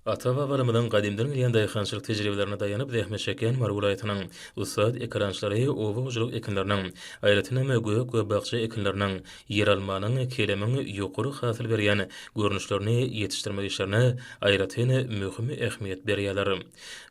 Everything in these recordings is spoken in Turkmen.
Ata-babalarymyzyň gadymdan gelýän daýhançylyk tejribelerine daýanyp zähmet çekýän Mary welaýatynyň ussat ekerançylary oba hojalyk ekinleriniň, aýratynam, gök we bakja ekinleriniň, ýeralmanyň, kelemiň ýokary hasyl berýän görnüşlerini ýetişdirmek işlerine aýratyn möhüm ähmiýet berýärler.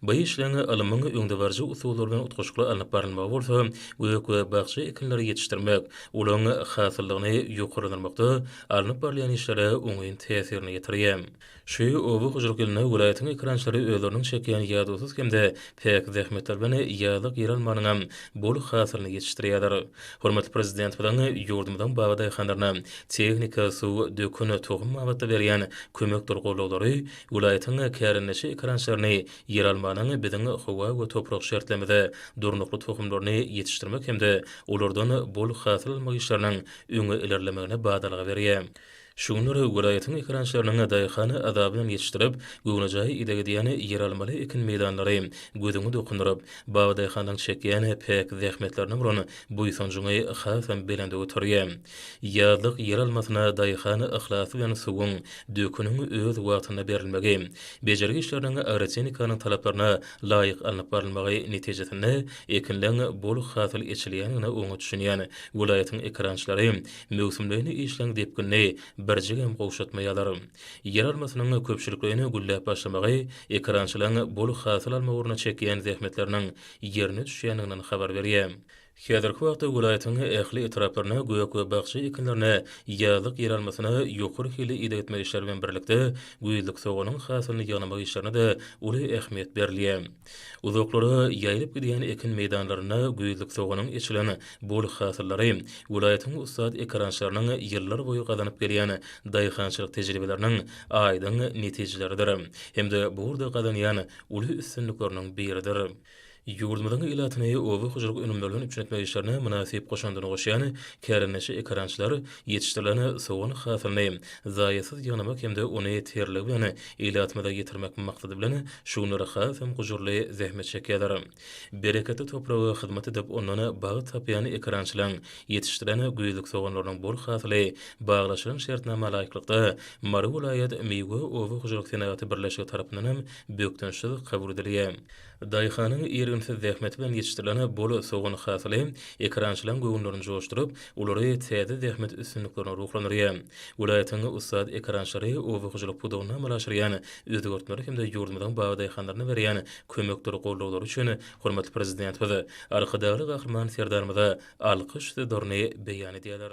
Bu işleriň ylmyň öňdebaryjy usullary bilen utgaşykly alnyp barylmagy bolsa gök we bakja ekinleri ýetişdirmek, olaryň hasyllygyny ýokarlandyrmakda alnyp barylýan işlere oňyn täsirini ýetirýär. Şu oba hojalyk ýylynda welaýatyň ekerançylary özleriniň çekýän ýadawsyz hem-de päk zähmetleri bilen ýazlyk ýeralmanyňam bol hasylyny ýetişdirýärler. Hormatly Prezidentimiziň ýurdumyzyň bagy daýhanlaryna tehnika, suw, dökün, tohum babatda berýän kömekdir goldaglary Welaýatyň kärendeçi ekerançylaryny ýeralmanyň biziň howa we toprak şertlerimize durnukly tohumlaryny ýetişdirmek hem-de olardan bol hasyl almak işleriniň öňe ilerlemegine badalga berýär. Şu günler welaýatyň ekerançylarynyň daýhan azaby bilen ýetişdirip, göwnejaý ideg edýän ýeralmaly ekin meýdanlary gözüňi dokundyryp, babadaýhanlaryň çekýän päk zähmetlerine bolan buýsanjyňy hasam belende göterýär. Ýazlyk ýeralmasyna daýhan yhlasy bilen suwuň, döküniň öz wagtynda berilmegi, bejergi işleriniň agrotehnikanyň talaplaryna laýyk alnyp barylmagy netijesinde ekinleň bol hasyl eçilýändigine oňat düşünýän welaýatyň ekerançylary möwsümleýin işleň depginini birjigem gowşatmaýarlar. Ýeralmasynyň köpçülikleýin gülläp başlamagy ekerançylaryň bol hasyl almak ugrunda çekýän zähmetleriniň ýerine düşýändiginden habar berýär. Häzirki wagtda welaýatyň ähli etraplarynda gök we bakja ekinlerine, ýazlyk ýeralmasyna ýokary hilli ideg etmek işleri bilen birlikde, güýzlük soganyň hasylyny ýygnamak işlerine-de uly ähmiýet berilýär. Uzaklara ýaýylyp gidýän ekin meýdanlarynda güýzlük soganyň eçilen bol hasyllary welaýatyň ussat ekerançylarynyň ýyllar boýy gazanyp gelýän daýhançylyk tejribeleriniň aýdyň netijeleridir hem-de bu ugurda gazanýan uly üstünlikleriniň biridir. Ýurdumyzyň ilatyny oba hojalyk önümlerinden üpjün etmek işlerine mynasyp goşandyny goşýan kärendeçi ekerançylar ýetişdirilen sogan hasylyny zaýasyz ýygnamak hem-de ony terligi bilen ilatymyza ýetirmek maksady bilen şu günler hasam gujurly zähmet çekýärler. Bereketli topraga hyzmat edip, ondan bagt tapýan ekerançylaryň ýetişdirilen güýzlük soganlarynyň bol hasyly baglaşylan şertnama laýyklykda Mary welaýat miwe oba hojalyk senagaty birleşigi tarapyndanam bökdençsiz kabul edilýär. Daýhanyň irginsiz zähmeti bilen ýetişdirilen bol sogan hasyly ekerançylaryň göwünlerini joşduryp, olary täze zähmet üstünliklerine ruhlandyrýar. Welaýatyň ussat ekerançylary oba hojalyk pudagynda amala aşyrýan özgertmeler hem-de ýurdumyzyň bagdaýhanlaryna berýän kömekler-goldawlary üçin hormatly Prezidentimiz, Arkadagly Gahryman Serdarymyza alkyş sözlerini beýan edýärler.